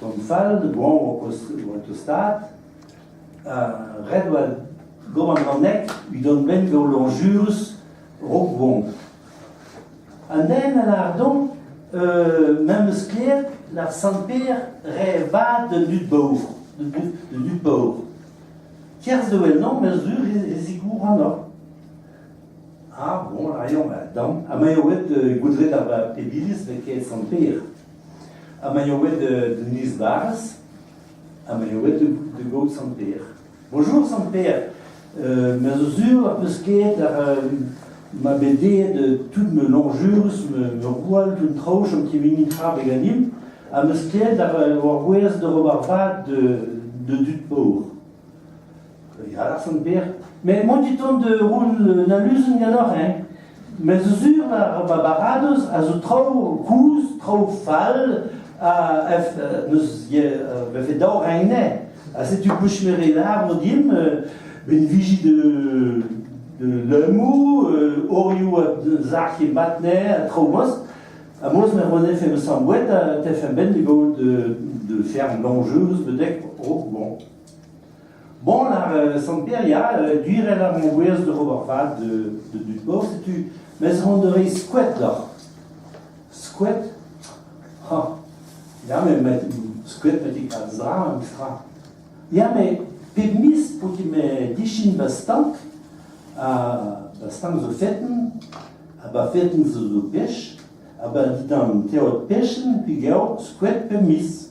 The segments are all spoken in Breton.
Tamm fall da goañv o oa tostaat. ret oa gant an annek udan benn gant lañjurus rok goañv. An den a lâr donc memes sklaer l'ar Sant-Pêr re vat d'un dud baour, d'un dud baour. Kerz da wellañ, ma sur e zigouranoc'h. Ah, bon, a raio ma damm. Ha ma eo bet goudret ar pep iliz met ket Sant-Pêr. ha ma eo aet d'un is-barrez, ha ma eo aet da gaout Sant-Pêr. Bonjour Sant-Pêr, euh, me zo sur ar peus ket ar, euh, ma bet aet tout ma lañjurus, ma gwall d'un traoù chom kemini tra be ganimp, ha meus ket ar, ur gwez d'ober vad de, de dud paour. Ya, Larsen Beer. Mais moi, du temps de rouen un aluzen ganeoc'h, hein. Me zo sur, va baradoz a zo traoù kouz, traoù fall, ha neus befe daou reine. Ha setu bouch me renar mo dim, ben viji de de leumoù, orioù a zac'h e matne ha traoù moz. Ha moz me rene fe me sambouet a te fem ben de gaout de de faire l'enjeu betek oh bon. Bon, ar euh, Sant-Peria, euh, gwirel ar mengouezh oc'h ober vad da dud bor, setu mez ront ur reiz skoet deoc'h. Skoet? Ha, ya, me skoet petit kaz dra, un tra. Ya, me pep miz, pou ti me dichin ba stank, ha ba stank zo feten, ha ba feten zo zo pech, ha ba ditan teot pechen, pi geo skoet pep miz.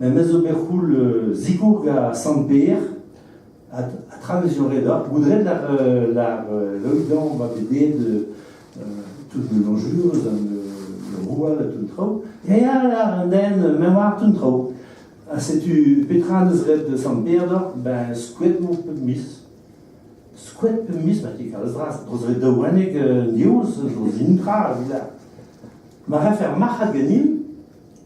Em eus bet c'houl zikoug a Sant-Pêr, ha tra m'ez eo ret oc'h. Goudret lar Loidan oa bet aet toute melanjur eus an roual ha tout an traoù. Ya, lar an den, me oar tout an traoù. Ha setu petra neus ret Sant-Pêr deoc'h, ben skoet vo pep miz. Skoet pep miz, ma ti kalz vras. Dros ret daou wenneg an diouz, zo zin tra a vil. Ma rafe ar marc'had ganin,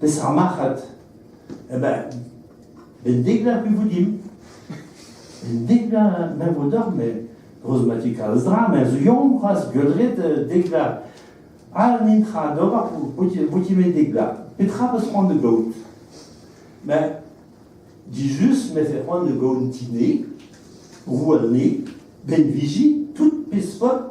Peseurt marc'had ben, ben degla pe vo dimp En degla ma vo deoc'h met brezhoneg kalz dra met zo yañ c'hoazh gaudret degla all n'int tra d'ober po ti met degla petra peus c'hoant da gaout ben dijust mefe c'hoant da gaout ti 'nez roue 'nez benviji tout peseurt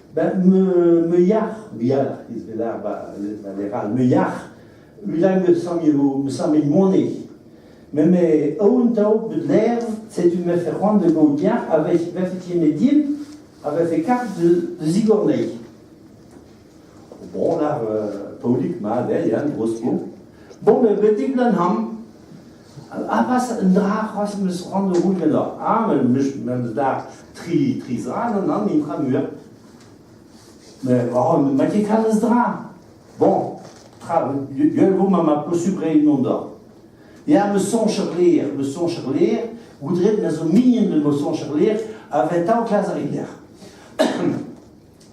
Ben, me, me yac'h, bialc'h ez ve lar ba, ba lec'h all, me yac'h, ulan me samme, me samme moane. Met me aoun tao bet ler, setu me fe c'hoant de gaout yac'h, a vefe tiene din, a vefe kart de, de zigornei. Bon, lar, Paolik, ma, der, yan, gros po. Bon, me betik lan ham, a lavaras un dra c'hoazh em eus c'hoant da vout ganeoc'h. Ah, ma dad, tri, tri zra nann, intra muiañ. Mais oh, ma ket kalz dra. Bon, tra, gwell vo ma ma posupl reiñ mont d'oc'h. Ya, ma soñj er lêr, ma soñj er lêr, goudret ma zo mignon de ma soñj er lêr, a vez tav klas ar lec'h.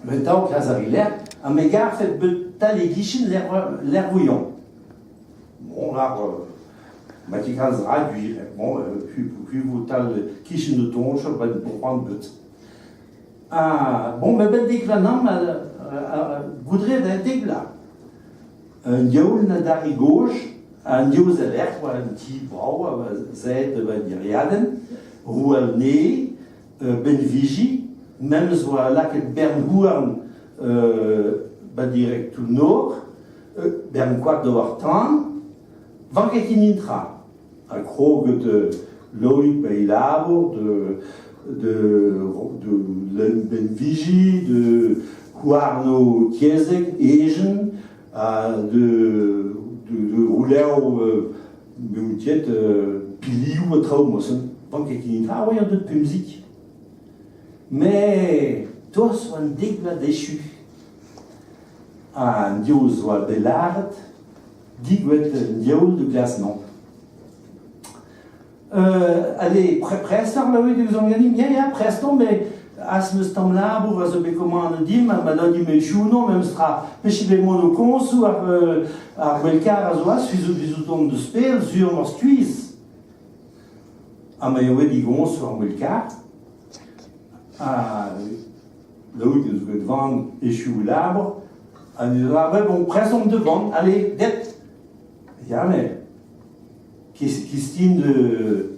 Me 'ta ho klas a-vi-lerc'h, ha me garfet beutañ e-gichen Lerc'houillon. Bon, ar ma ket kalz rak, bon, kuivotal kichen o toñch, ba c'hoant bet. Ha, bon, me bet deklañv goudre da deglañ. Un diaoul na d'arri gozh, un diaoul e-lec'h oa un ti brav, a zed un iriadenn, roue un ene, benviji, memes oa lakaet bern-houarn ba direktoù-nor, bern koad d'ober tan, vanketin intra. Ha krog de Loïc ba e labour, de, de, de benviji, de houarno tiezek, ejen, ha de, de, de roulerv Beomp ket pilioù ha traoù mosen. Pan ket ket netra, oa an dud pemzik. Met toaz oa an dek vloaz dechu. An diouz oa bet lâret, digouet un diaoul da glas-mañ. Euh, allez, prest ar laouet e ouzon ganin, ya, ya, prest on, mais Az eus tamm labour a zo bet komanet dimp ha ma dad dimp echuno memestra. Peche bet mont o koñsoù ar, ar gwell-karr a zo az fizout fizout on deus pell sur m'or skuizh. Ha ma eo bet digoñsoù ar gwell-karr. Ha Laout eus bet van echu labour. Ha ne lavaret bon prezom de van, allez, det. Ya, mais qu'est-ce qui de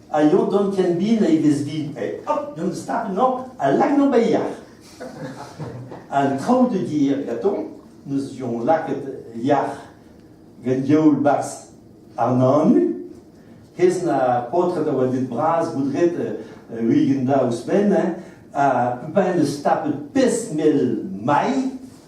aio dont ken bin e vez vin. Eh, hop, deomp start-mañ al Lagnobeilhach. An traoù de dire gatoñ, n'eus jon lakaet yac'h gant youl barzh ar nanu. Hes na paotred a oa dud bras boudret euh, ugent da ouzhpenn, hein, ha peupin eus tapet pes mel mai,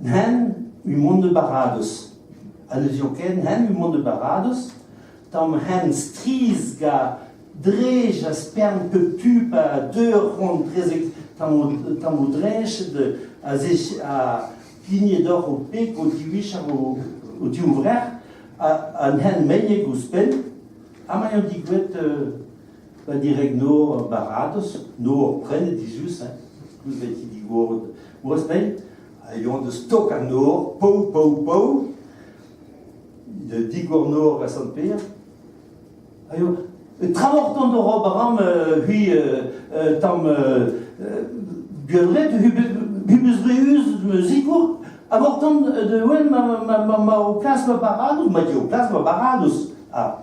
N'hen eo mont da Baradoz, ha ne zio ket n'hen eo mont da Baradoz tamm hent strizh ga drej ha spern pep tu pa deu ur c'hontrezeg tamm o tamm o dreched a zech a pigne doc'h o peg o divicher o, o div vrec'h ha, ha n'hen megneg ouzhpenn ha ma eo digouet uh, pa direg nor Baradoz, nor prenet dizuz, hein, koulz e ti digoret Gwazneil, a yoa deus tok an nor, pau, pau, pau, de digor nor a Sant-Pêr, a yoa tramortant a ra baram hui tamm buelret hubus reuz zikour, abortant de wenn ma ma ma o klas ma baradoz, ma di o klas ma baradoz. Ah.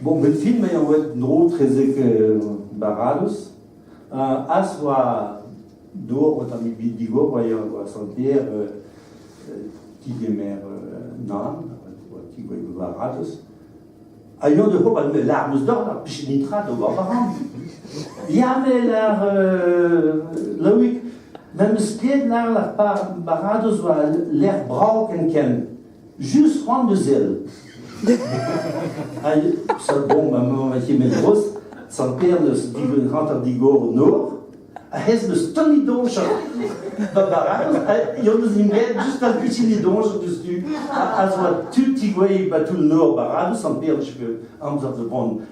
Bon, bet film eo aet en-dro etrezek Baradoz. Az oa dor o tamm ebet digor oa oa santer tigemer nan, tigouez Baradoz. Ha yon de hop, l'arme d'or, ar pichet nitra d'o war baran. Ya, met ar Loïc, memes pied lar la Baradoz oa ler brav ken ken. Just c'hoant da zell. Hag, sa bon, ma mañ a ket met gros, sant Per neus digoret hanter digor o nor, ha hez neus tonni donj da baral, ha yon eus int bet just al kutini donj diouzhtu, ha a zoa tud tigouei ba toull nor baradou, sant Per n'eus ket amzer da vont.